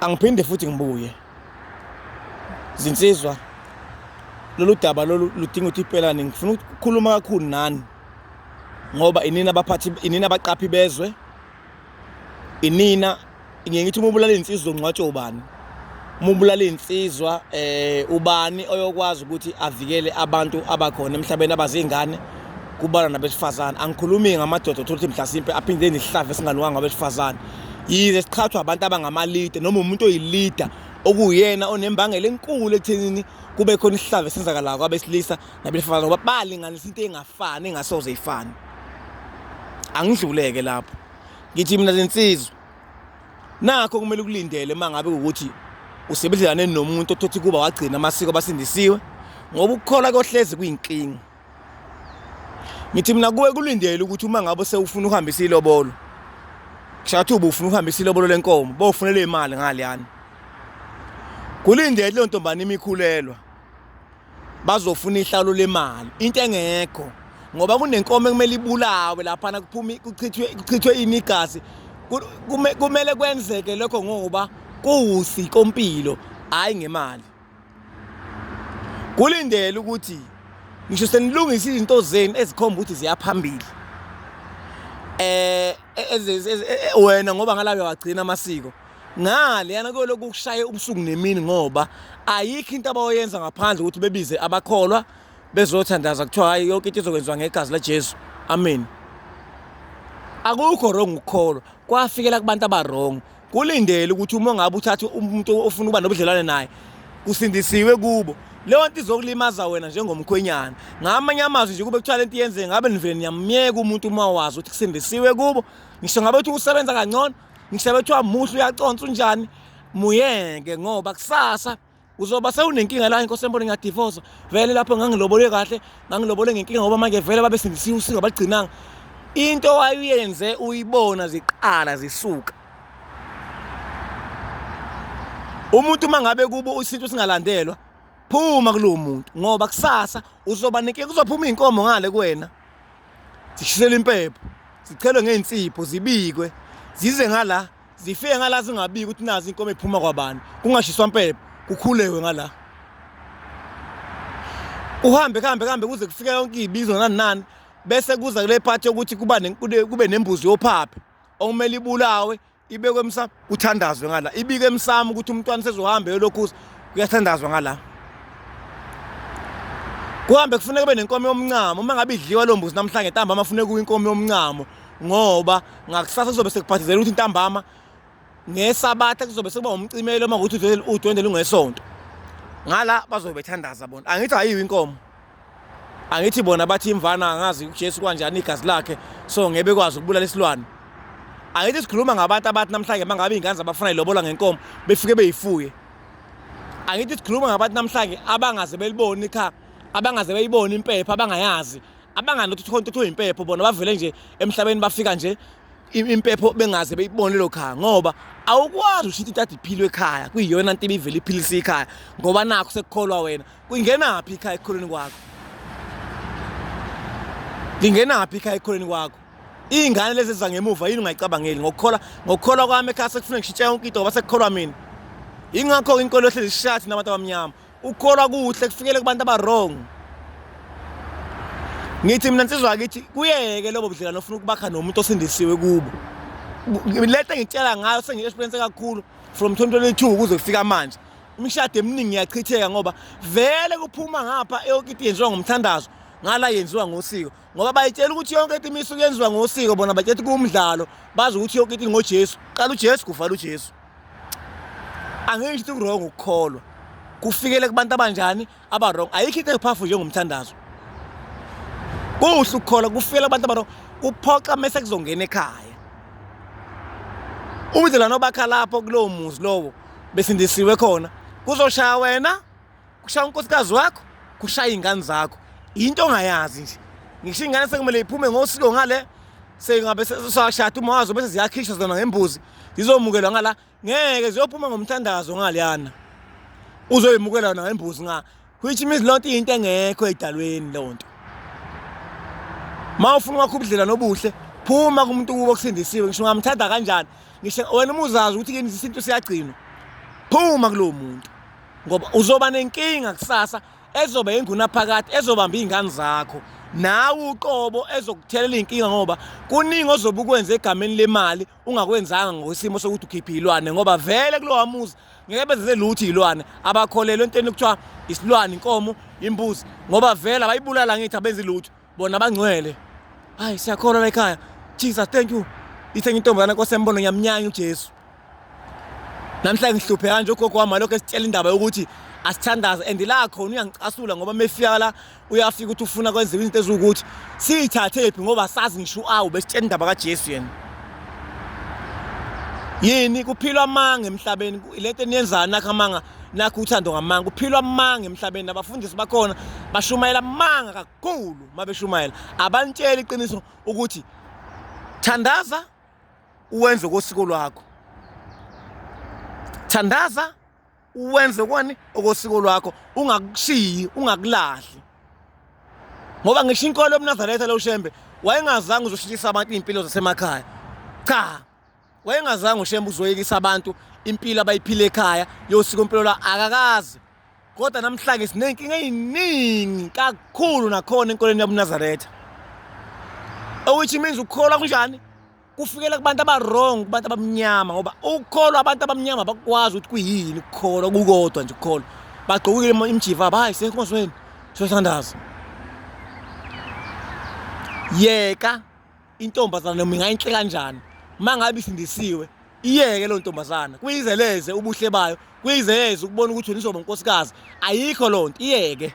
angiphinde futhi ngibuye zinsizwa lolu daba lolu ludinga ukuthi ipelane ngifuna ukukhuluma kakhulu nani ngoba inina abaphathi inina abaqaphi bezwe inina ngiye ngithi uma ubulala insizwa ungcwatshwe ubani uma ubulala insizwa eh ubani oyokwazi ukuthi avikele abantu abakhona emhlabeni abazingane kubala nabesifazane angikhulumi ngamadoda othola ukuthi mhlasimpe aphinde nihlave singanuka ngabesifazane yize siqhathwa abantu abangamalida noma umuntu oyilida okuyena onembangela enkulu ekuthenini kube khona isihlava esenzakalayo kwabesilisa nabesifazane ngoba balinganisa into engafani engasoze ifane angidluleke lapho ngithi mina lensizwa nakho kumele ukulindele uma ngabe ukuthi usebenzelane nomuntu othothi kuba wagcina amasiko abasindisiwe ngoba ukukholwa kohlezi kuyinkinga ngithi mina kuwe kulindele ukuthi uma ngabe sewufuna ukuhambisa ilobolo kushathi uba ufuna ukuhambisa ilobolo lenkomo bofunele imali ngaleyana kulindele leyo ntombane imikhulelwa bazofuna ihlalo lemali into engekho ngoba kunenkomo ekumele ibulawe laphana kuphume kuchithwe kuchithwe ini igazi kumele kwenzeke lokho ngoba kuwusiko mpilo hayi ngemali kulindele ukuthi ngisho senilungisa izinto zenu ezikhomba ukuthi ziyaphambili eh wena ngoba ngalabe wagcina amasiko ngale yana kuyolokhu kushaye ubusuku nemini ngoba ayikho into abayoyenza ngaphandle ukuthi bebize abakholwa bezothandaza kuthiwa hayi yonke into izokwenziwa ngegazi laJesu amen akukho wrong ukukholwa kwafikela kubantu abarong kulindele ukuthi uma ngabe uthatha umuntu ofuna ukuba nobudlelwane naye kusindisiwe kubo leyo nto izokulimaza wena njengomkhwenyana ngamanye amazwi nje kube kuthiwa le nto yenzeke ngabe nivele niyamyeka umuntu uma wazi ukuthi kusindisiwe kubo ngisho ngabe kuthiwa usebenza kangcono ngisho ngabe kuthiwa muhle uyaconsa unjani muyeke ngoba kusasa uzoba sewunenkinga la inkosi embone ngiyadivosa vele lapho ngangilobole kahle ngangilobole ngenkinga ngoba manje vele babesindisiwe usinga bagcinanga into wayenze uyibona ziqala zisuka umuntu uma ngabe kubo isintu singalandelwa phuma kulowo muntu ngoba kusasa uzoba nenkinga kuzophuma iy'nkomo ngale kuwena zishisele impepho zichelwe ngey'nsipho zibikwe zize ngala zifike ngala zingabiki ukuthi nazi inkomo ephuma kwabani kungashiswa mpepho kukhulewe ngala uhambe kuhambe kuhambe kuze kufike yonke ibizo nani nani bese kuza kule part yokuthi kuba kube nembuzi yophaphe okumele ibulawe ibekwe emsamo kuthandazwe ngala ibike emsamo ukuthi umntwana sezohamba yolokhuza kuyathandazwa ngala kuhambe kufuneka kube nenkomo yomncamo uma ngabe idliwa lo mbuzi namhlanje ntambama kufuneka kuwe inkomo yomncamo ngoba ngakusasa kuzobe sekubhadizela ukuthi intambama ngesabatha kuzobe sekuba umcimelo uma ukuthi udwendwe lungesonto ngala bazobe bethandaza bona angithi ayiyo inkomo angithi bona bathi imvana angazi uJesu kanjani igazi lakhe so ngebe kwazi ukubulala isilwane angithi sikhuluma ngabantu abathi namhlanje mangabe izingane zabafuna ilobola ngenkomo befike beyifuye angithi sikhuluma ngabantu namhlanje abangaze beliboni ikha abangaze beyibona impepha abangayazi abangani ukuthi khona ukuthi uyimpepho bona bavele nje emhlabeni bafika nje impepho bengaze beyibone lo khaya ngoba awukwazi ushithi intatha iphilo ekhaya kuyiyona nto ibivele iphilisa ikhaya ngoba nakho sekukholwa wena kungenaphi ikhaya ekukholweni kwakho lingenaphi ikhaya ekukholweni kwakho iy'ngane lezi eziza ngemuva yini ungayicabangeli ngokukhola ngokukholwa kwami ekhaya sekufuneka ngishintshe yonke into ngoba sekukholwa mina yingakho-ke inkolo yohlezi ishathi nabantu abamnyama ukukholwa kuhle kufikele kubantu abawrong ngithi mina nsizwa akithi kuyeke lobo budlelwano ofuna ukubakha nomuntu osindisiwe kubo lento engitshela ngayo sengi-experience kakhulu from 2022 kuze kufika manje imishado eminingi iyachitheka ngoba vele kuphuma ngapha yonke into yenziwa ngomthandazo ngala yenziwa ngosiko ngoba bayitshela ukuthi yonke into imisu yenziwa ngosiko bona batshela ukuthi kuwumdlalo bazi ukuthi yonke into ngojesu qala ujesu kuvala ujesu angeke ngithi kurong ukukholwa kufikele kubantu abanjani abarong ayikho into ephafu njengomthandazo kuhle ukukholwa kufikele abantu abarong kuphoxa mese kuzongena ekhaya ubudlelwane obakha lapho kulowo muzi lowo besindisiwe khona kuzoshaya wena kushaya unkosikazi wakho kushaya iy'ngane zakho yinto ongayazi nje ngisho iy'ngane sekumele iphume ngosiko ngale sengabe sashada uma wazo bese ziyakhishwa zona ngembuzi zizomukelwa ngala ngeke ziyophuma ngomthandazo ngaleyana uzoyimukela yona ngembuzi nga which means lonto into engekho edalweni lonto ma ufuna wakho ubudlela nobuhle phuma kumuntu kubo kusindisiwe ngisho ungamthanda kanjani ngisho wena umuzazi ukuthi kini isintu siyagcinwa phuma kulowo muntu ngoba uzoba nenkinga kusasa ezoba engunaphakade ezobamba izingane zakho nawe uqobo ezokuthelela inkinga ngoba kuningi ozobe ukwenza egameni lemali ungakwenzanga ngokwesimo sokuthi ukhiphe ilwane ngoba vele kulowa muzi ngeke bezele lutho izilwane abakholelwe entweni kuthiwa isilwane inkomo imbuzi ngoba vele abayibulala ngithi abenzi lutho bona bangcwele hayi siyakhona la ekhaya jesus thank you ithe ngintombazana kwasembono ngiyamnyanya ujesu namhla ngihluphe kanje ugogo wami lokho esitshela indaba yokuthi asithandaze and la khona uyangicasula ngoba mefika la uyafika ukuthi ufuna kwenziwa izinto eziwukuthi siyithathephi ngoba sazi ngisho awu besitshela indaba kajesu yena yini kuphilwa amanga emhlabeni le nto eniyenzani nakho amanga nakho uthando ngamanga kuphilwa amanga emhlabeni abafundisi bakhona bashumayela amanga kakhulu mabeshumayela abantshela iqiniso ukuthi thandaza uwenze kosiko lwakho thandaza uwenze kwani okosiko lwakho ungakushiyi ungakulahli ngoba ngisho inkolo yomnazaretha lo shembe wayengazange uzoshintshisa abantu iy'mpilo zasemakhaya cha wayengazange ushembe uzoyekisa abantu impilo abayiphile ekhaya yosiko mpilo la akakazi kodwa namhlanje sinenkinga eyiningi kakhulu nakhona enkolweni yabunazaretha which means ukukholwa kunjani kufikela kubantu abarong kubantu abamnyama ngoba ukukholwa abantu abamnyama bakwazi ukuthi kuyini ukukholwa kukodwa nje ukukholwa bagqokile imjiva abo hayi senkonzweni siyothandaza yeka Intombazana noma ingayinhle kanjani uma ngabe isindisiwe iyeke loo ntombazana kuyizeleze ubuhle bayo kuyizeleze ukubona ukuthi nizoba unkosikazi ayikho loo nto iyeke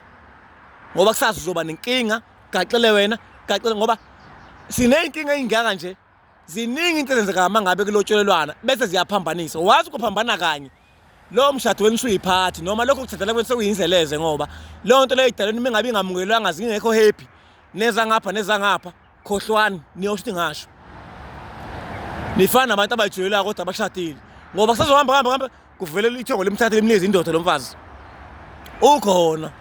ngoba kusazi uzoba nenkinga gaxele wena gaxele ngoba siney'nkinga ey'ngaka nje ziningi into ezenzeka uma ngabe kulotsholelwana bese ziyaphambanisa wazi ukuphambana kanye lowo mshado wenu usuyiphathi noma lokho kuthathela kwenu sekuyinzeleze ngoba leyo nto leyo idalweni uma ingabe ingamukelwanga zingekho happy nezangapha nezangapha khohlwani niyosho ukuthi ngasho nifana nabantu abayijwayelayo kodwa abashadile ngoba kusazohamba hamba hamba kuvele ithongo limthathe limnikeze indoda lo mfazi ukhona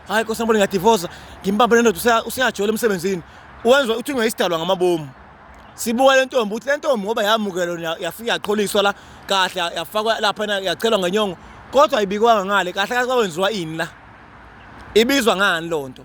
hayi nkosi yambona ngiyadivosa ngimbambe nendoda useyajola emsebenzini wenza uthi ungeyisidalwa ngamabomu sibuka le ntombi ukuthi le ntombi ngoba yamukelwa yafika yaqholiswa la kahle yafakwa lapha yachelwa ngenyongo kodwa ayibikwanga ngale kahle kahle kwawenziwa ini la ibizwa ngani loo nto